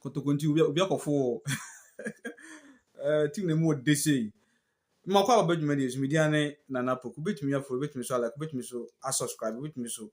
Kotoko nti obi obi akɔfo wɔ ɛɛ team na mu ɔde sei. Mma kɔ a ɔbɛ dwuma deɛ so media ne nana poku betumi afo betumi so alike betumi so asubscribe betumi so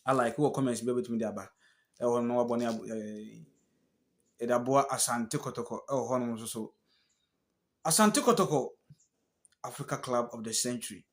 alike wɔ comments bi betumi de aba ɛwɔ no wabɔ ne abo ɛɛ ɛde aboa asante kɔtɔkɔ ɛwɔ hɔ nom nso so asante kɔtɔkɔ africa club of the century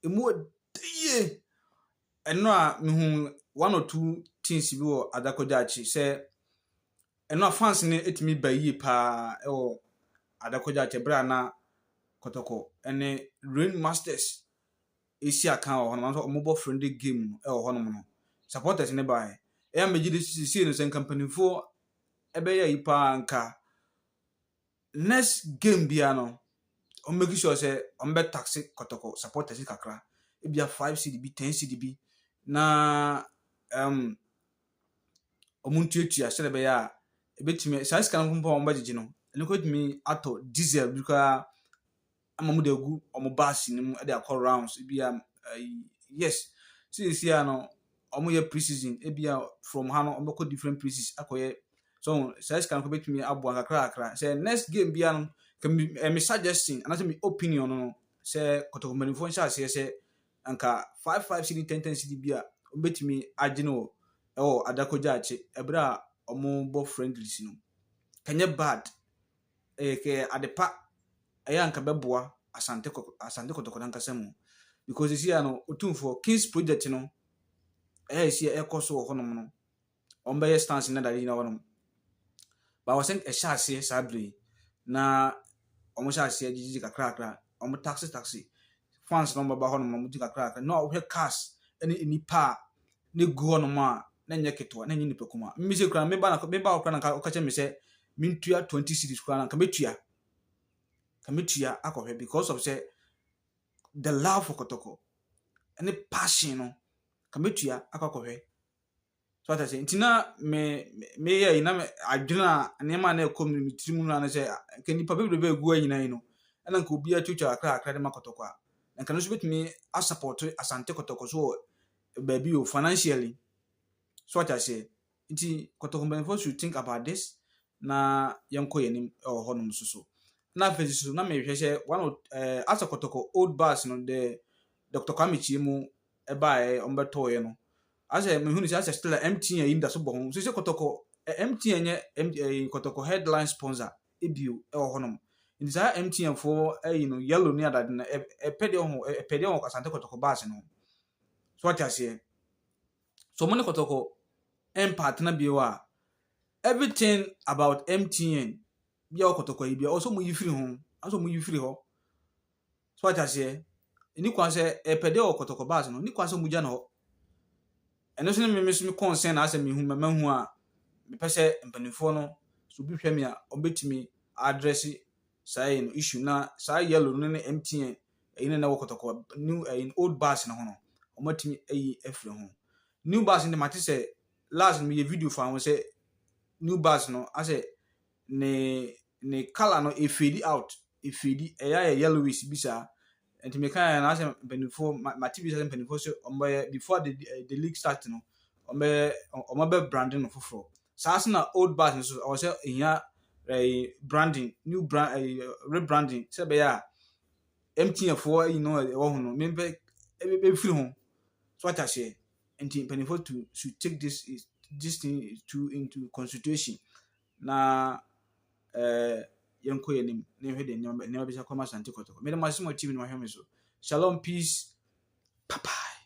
ɛmu yɛ dɛ yie. Ɛno a mehuu one or two things bi wɔ Adakogya akyi sɛ ɛno a fans no tumi ba yie paa wɔ Adakogya akyi berɛ a na Kɔtɔkɔ ne Rain Masters ɛsi akan wɔ hɔnom nanso wɔbɔ friendly game wɔ hɔnom no supporters ne baeɛ ɛyɛ a megye de sisei no sɛ nka mpanimfoɔ ɛbɛyɛ yi paa nka next game biara no wɔn make sure sɛ wɔn bɛ taxe kɔtɔkɔ supporters kakra ebia five cd bi ten cd bi na um, wɔn ntuatua sɛdeɛ ɛbɛyɛ a ebetumi saa sika no mpo a wɔn bɛgyegye no ɛno kɔ etumi atɔ diesel bi koraa. ama wɔde agu wɔn bus no mu de akɔ rounds ebia ayi yes seesie a no wɔyɛ pre season ebia from ha no wɔbɛkɔ different places akɔyɛ so saa sika no bɛtumi aboa kakra kakra sɛ next game bia no kɛmi ɛmi suggestion anaasɛ mi opinion no sɛ kɔtɔkɔ mpanimfoɔ nhyɛ aseɛ sɛ anka five five cd ten ten cd bi a wɔbɛtumi agye no wɔ ɛwɔ adakogya akye ɛberɛ a wɔbɔ friendlies no kɛnyɛ bad. Ɛyɛ kɛ adepa ɛyɛ anka bɛboa Asante kɔ Asante Kɔtɔkɔ nankasa mu because sisi a no Otumfoɔ King's project no ɛyɛ sisi a ɛkɔ so wɔ hɔnom no wɔn bɛyɛ stands na dade gyina hɔnom but I was think ɛhyɛ aseɛ saa bere yi na wɔn hyɛ aseɛ gyegyegye kakra kakra wɔn taxi taxi fans na wɔn bɛba hɔnom na wɔn gye kakra kakra na wɔhwɛ cars ɛne nnipa a na egu hɔnom a, na ɛnyɛ ketewa, na ɛnyɛ nipa kuma. Mimi se kura, meba na meba hɔ kura na nka ɔka kyerɛ me sɛ mentua twenty cities kura na nka metua. Nka metua akɔhwɛ because of sɛ the love for kɔtɔkɔ ne passion no nka metua akɔ akɔhwɛ. So ata sɛ nti na me meyɛ yi na me adwene a nneɛma a na ɛkɔ mu no me tirim no na sɛ nka nipa bebrebe egu hɔ nyinaa yi no ɛna nka obiara twitwa akra akra de ma kɔtɔkɔ a na nka no nso bɛtumi asapɔɔto Asante Kɔtɔkɔ so wɔ baabi o, financially. So ate aseɛ? Nti Kɔtɔkɔ mpanimfoɔ should think about this na yɛnkɔ yɛn anim wɔ hɔnom nso so. Na afei nso so na mehwɛ sɛ one of eh, Asa Kɔtɔkɔ old bus no the Dr. Kwame Kyie mu ɛbaeɛ wɔbɛtɔeɛ no asɛ mehu no sɛ asɛ still a MTN yi da so bɔ ho so sɛ Kɔtɔkɔ eh, MTN nyɛ M- eh, Kɔtɔkɔ headline sponsor bio wɔ hɔnom. Nti saa MTN foɔ ayi no yellow ne adade no ɛpɛ deɛ ɔho ɛpɛ deɛ wɔ Asante Kɔtɔkɔ baase no ho. So ate aseɛ? So mo ne Kɔtɔkɔ ɛmpa atena bio a everything about MTN bi a wɔ Kɔtɔkɔ yi bi a ɔsɛ mo yi firi ho, ɔsɛ mo yi firi hɔ. So wate aseɛ? Ɛni kwan sɛ ɛpɛ dɛ ɔkɔtɔkɔ bus no, ɛni kwan sɛ wɔgya no hɔ. Ɛno nso ne me nso me concern na asɛ mehu mɛma hu a mepɛ sɛ mpanimfoɔ no so bi hwɛ me a wɔbɛtumi address saa ɛyi no issue na saa yellow no ne MTN ɛyi no na ɛwɔ kɔtɔkɔ new ɛyi old bus no ho no wɔatumi ayi afiri ho. New bus no de mate sɛ last no meyɛ video fa ho sɛ new bus no asɛ ne ne colour no efeedi out efeedi ɛyɛ ayɛ yellowish bi saa nti mi kan yɛ na asɛ mpanyinfoɔ ma ma ti bi sɛ mpanyinfoɔ sɛ wɔn bɛyɛ before the eh, the league start no wɔn bɛyɛ wɔn abɛ branding no foforɔ saa so na old bus nso ɔwɔ sɛ ehia ɛɛ eh, branding new brand ɛɛ eh, rebranding sɛ bɛyɛ a mtn foɔ ɛyi no ɛwɔ ho no mi bɛ ɛbɛ bɛ firi ho so ata seɛ nti mpanyinfoɔ to should take this this thing to into consideration. na eh, yɛnkɔ yɛn anim na yɛhwɛ deɛ nneɛma nneɛma bɛsi akɔ ma Asante Kɔtɔkɔ. Mede mo ase mo akyiri na wahwɛ me so. Shalom, peace, bye bye.